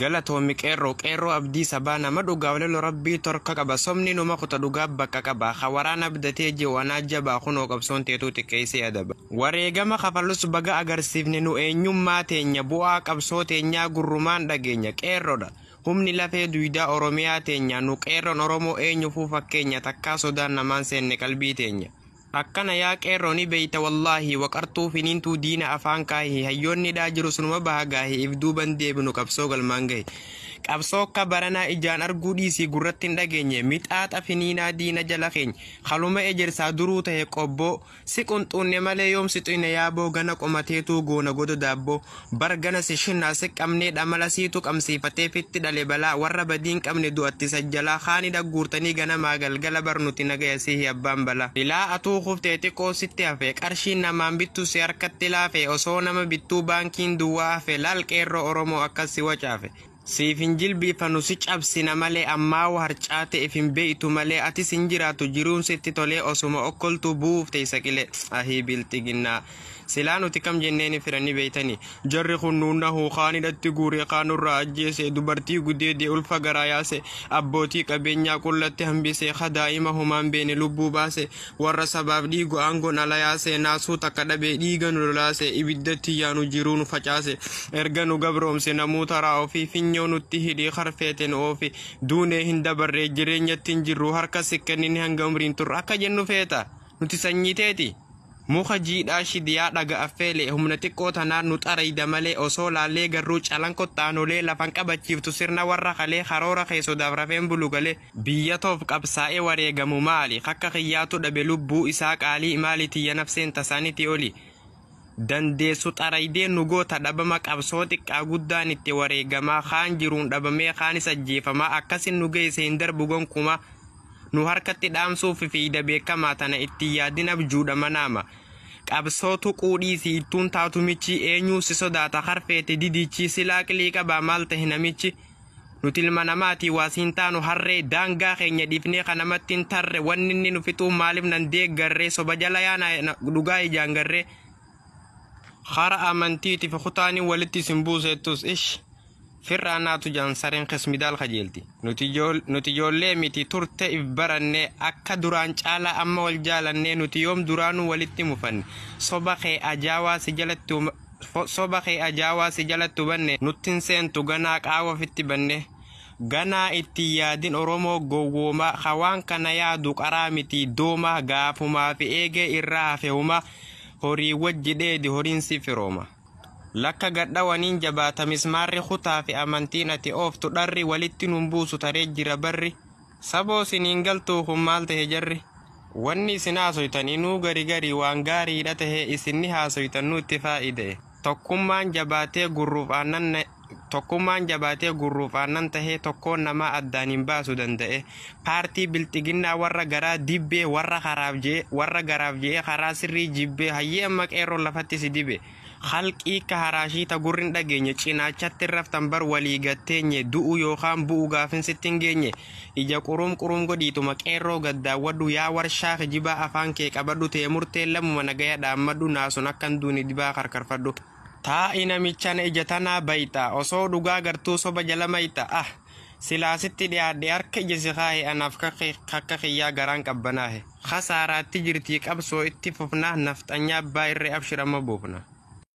Galatoomi qeerroo qeerroo abdii sabaa nama dhugaa walelo rabbii torka qaba somni numa kuta dhugaa bakka qaba ka waraana abdatee jiru anaa jabaa kunoo qabsoon teetuu xiqqeessee adaba wareegama kafalus baga agarsiifne nu eenyummaa teenya bu'aa qabsoo teenyaa gurrumaan dhageenya qeerrodha humni lafee duydaa oromiyaa teenyaa nu qeerroon oromoo eenyufuu fakkeenya takkaa sodaan namaan seenne qalbii teenya Akkana yaa qeerroo ni beeyta wallahi waqartuu finiintuu diina afaan kaahi hayyoonni hidhaa jirus numa baha gaahi if duuban deebinu qabsoo galmaan gahi qabsoo akka baranaa ijaan arguu dhiisii gurratti hin dhageenye mixaaxa finiinaa diina jala keeny haluma ejersaa duruu tahe qobboo si qunxuunne malee yoom si xuyne yaaboo gana qomateetuu goona godo daabboo Bar gana si shinna si qabnee dhamala siitu qabmsiifatee fitti dhale balaa warra badii hin qabne du'atti isa jalaa kaani dhagguurtanii ganamaa galgala bar nuti nagaya sihi abbaan balaa. Ilaa atuu kuftee xiqoo sitti hafe qarshiin namaan bittu si harkatti laafe osoo nama bittuu baankiin duwwaa hafe laal qeerroo oromoo akkas si wacaafe. Siif hin jilbiifannu si cabsina malee ammaawu harcaate if hin beeytu malee atis hin jiraattu jiruun sitti tolee osuma okkoltuu bu'uuf teeysa qilee ahii bilxiginnaa silaa nuti kam jenneeni fira ni beeytani jarri kun nu nahu kaan hidhatti guure kaan nurraa ajjeese dubartii gudeede ulfa garaa yaase abbootii qabeenyaa qullatti hambise ka daa'ima homaan beeyne lubbuu baase warra sabaaf dhiigu aangoon ala yaase naasuu takka dhabe dhiiga nu lolaase ibiddatti yaanu jiruu nu facaase erga nu gabroomse namuu taraa ofii finyoo nutti hidhii karfeete nu oofi duunee hin dabarree jireenyatti hin jirru harka si kennine hanga umriin turre akka jennu feeta nuti sanyii teeti. Muka jiidhaa shidiyaa dhaga affeelee humna xiqqoo tanaan nu xarayda malee osoo laallee garruu calan kottaanolee lafan qabachiiftu sirna warra kalee karoora kee sodaaf rafeen bulu galee Biyya toof qabsaa'e wareegamu maali kakka kiyyaatu dhabe lubbuu isaa qaalii maali tiyya nafseen tasaaniti oli dandeessu xaraydee nu goota dhabama qabsoo xiqqaa guddaan itti wareegamaa kaan jiruun dhabamee kaanis ajjeefamaa akkasin nu geeyse hin darbu gonkumaa nu harkatti dhaamsuuf fiida beekamaa tana itti yaadin abjuudha manaama qabsoo tuquu dhiisi ittuun taatu michi eenyuu si sodaata harfeete didichi silaa qilii qabaa maal tahe namichi Nuti ilma namaati waas hin taanu harree daangaa keenya dhiifnee ka namatti hin tarre wanni inni nu fixuu maaliif nan deeggarree soba jala yaana dhugaa ijaan garree hara amantiiti fi kutaanii walitti isin buuseettus ish firraa naatu jaan sareen kismidaal kajeelti nuti ijool- nuti ijoollee miti turte if baranne akka duraan caalaa amma wal jaalannee nuti yoom duraanuu walitti mufanne soba kee ajaawaa si jalatti uma- Soba kee ajaa waa si jalattu banne nutti hin seentu ganaa qaawa ofitti banne ganaa itti hin yaadin oromoo gowwooma ka waan kana yaadu qaraa miti dooma gaafumaa fi eegee irraa hafe huma horii wajji dheedi horiin si firooma lakka gad dhawaniin jabaata mismaarri kutaa fi amantiin ati ooftu dharri walitti nun buusu taree jira barri Saboo sin hin galtuu kun maal tahe jarri wanni isin haasoytan inuu gari gari waan gaariidha tahe isinni haasoytan nuutti faayidae tokkummaan jabaatee gurruuf aannan tokkummaan jabaatee gurruuf aannan tahee tokkoon namaa addaan hin baasu dandae paartii bilxiginnaa warra garaa dibbee warra karaaf jee warra garaaf jeee karaa sirrii jibbee hayyee amma qeerroon lafatti si dibe Khalqii ka haraashii ta gurri hin dhageenye cinaachatti hin raftan bar walii gatteenye du'u yookaan bu'u gaafin sitti hin geenye ija quruum quruum godhiituma qeerroo gad daawwadhu yaa warshaa kijibaa afaan kee qabadhu tee murteen lammuma nagaya dhaammadhu naasun akka hin duune dibaa karkarfadhu. Taa'i namichana ija tanaa bayxa osoo dhugaa gartuu soba jala mayxa ah. Silaa sitti dhiyaadhe harka ija si kaahe anaaf kakka kiyyaa garaan qabbanaahe. Kasaaraatti jirtii qabsoo itti fufna nafxanyaa abbaa irree abshir amma buufna.